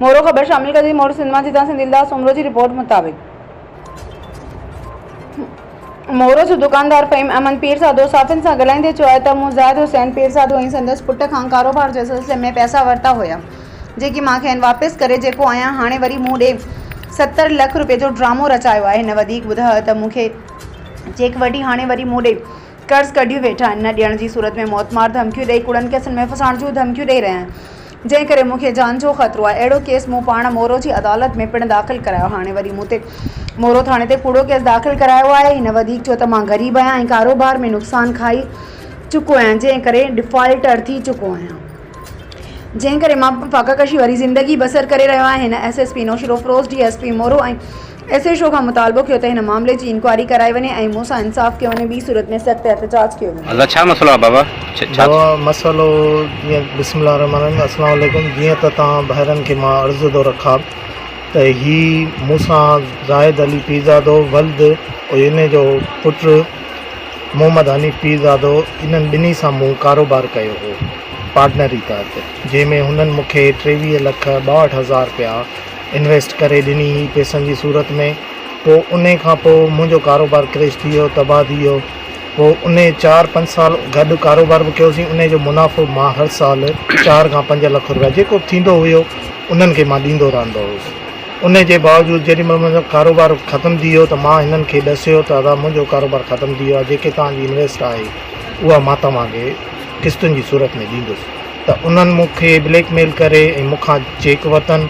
مورو خبر شامل ڪجي مورو سنيما جي تان سنڌي الداس سومرو جي رپورٽ مطابق مورو جو دڪاندار فهيم احمد پير سادو صحافين سان ڳالهائيندي چيو آهي ته مون زاهد حسين پير سادو ۽ سندس پٽ کان ڪاروبار جي سلسلي ۾ پئسا ورتا هيا جيڪي مان کين واپس ڪري چڪو آهيان هاڻي وري مون ڏي ستر لک روپين جو ڊرامو رچايو آهي هن وڌيڪ ٻڌايو ته مون کي چيڪ وٺي هاڻي وري مون ڏي قرض ڪڍيون ويٺا آهن نه ڏيڻ جي صورت ۾ موتمار ڌمڪيون ڏئي ڪوڙن ڪيسن ۾ ڦسائڻ جون ڌمڪيون ڏئي رهيا آهن جنهن ڪري مون کي جان جو خطرو آهي. اهڙو ڪيس مون پاڻ مورو جي عدالت ۾ پڻ داخل ڪرايو. هاڻي وري مون تي مورو ٿاڻي تي ڪوڙو ڪيس داخل ڪرايو آهي. هن وڌيڪ چيو ته مان غريب آهيان ۽ ڪاروبار ۾ نقصان کائي چڪو آهيان جنهن ڪري ڊفالٽر ٿي چڪو آهيان. جنهن ڪري مان فاقه ڪشي واري زندگي بسر ڪري رهيو آهيان. هن S S P Naushahro Feroze, D S P Moro ۽ S H O کان مطالبو ڪيو ته هن معاملي جي انڪوائري ڪرائي وڃي ۽ مون سان انصاف ڪيو وڃي ٻي صورت ۾ سخت احتجاج ڪيو ويندو. ڇا مسئلو آهي بابا ڇا. بابا مسئلو جيئن بسم الله الرحمٰن الرحيم السلام عليڪم جيئن ته توهان ڀائرن کي مان عرض ٿو رکاب ته هي مون سان زاهد علي پيرزادو ولد عييني جو پٽ محمد حنيف پيرزادو انهن ٻنهي سان مون ڪاروبار ڪيو هو پارٽنري تحت جنهن ۾ هنن مون کي ٽيويهه لک ٻاهٺ هزار رپيا انويسٽ ڪري ڏني هئي پيسن جي صورت ۾ پوء انهي کان پوء منهنجو ڪاروبار ڪريش ٿي ويو تباهه ٿي ويو پوء انهي چار پنج سال گڏ ڪاروبار به ڪيوسين انهي جو منافعو مان هر سال چار کان پنج لک روپيا جيڪو به ٿيندو هيو انهن کي مان ڏيندو رهندو هيس انهي جي باوجود جيڏي مهل منهنجو ڪاروبار ختم ٿي ويو ته مان هنن کي ڏسيو ته ادا منهنجو ڪاروبار ختم ٿي ويو آهي جيڪي توهان جي انويسٽ آهي اها مان توهان کي قسطن جي صورت ۾ ڏيندس ته انهن مون کي بليڪ ميل ڪري ۽ مون کان چيڪ ورتن.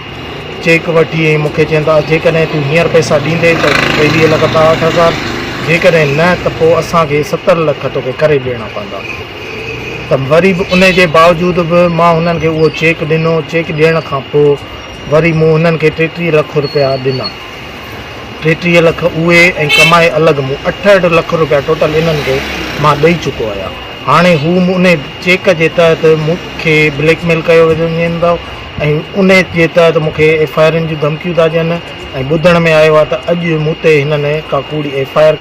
چيڪ وٺي ۽ مون کي چين ته جيڪڏهن تون هينئر پئسا ڏيندين ته ٽيويهه لک ٻاهٺ هزار، جيڪڏهن نه ته پوء اسان کي ستر لک توکي ڪري ڏيڻا پوندا. ته وري به انهي جي باوجود به مان هنن کي اهو چيڪ ڏنو. چيڪ ڏيڻ کان پوء وري مون هنن کي ٽيٽيهه لک رپيا ڏنا. ٽيٽيهه لک اهي ۽ ڪمائي الڳ مون اٺهٺ لک روپيا ٽوٽل انهن کي مان ڏئي چڪو آهيان هاڻي هو انهي چيڪ جي تحت مون کي بليڪ ميل ڪيو وڃين ٿو ۽ انهي جي تحت مون کي ايف آء آرن جون ڌمڪيون ٿا ڏين ۽ ٻڌڻ ۾ آيو آهي ته اڄ مون تي هنن ڪا ڪوڙي ايف آء آر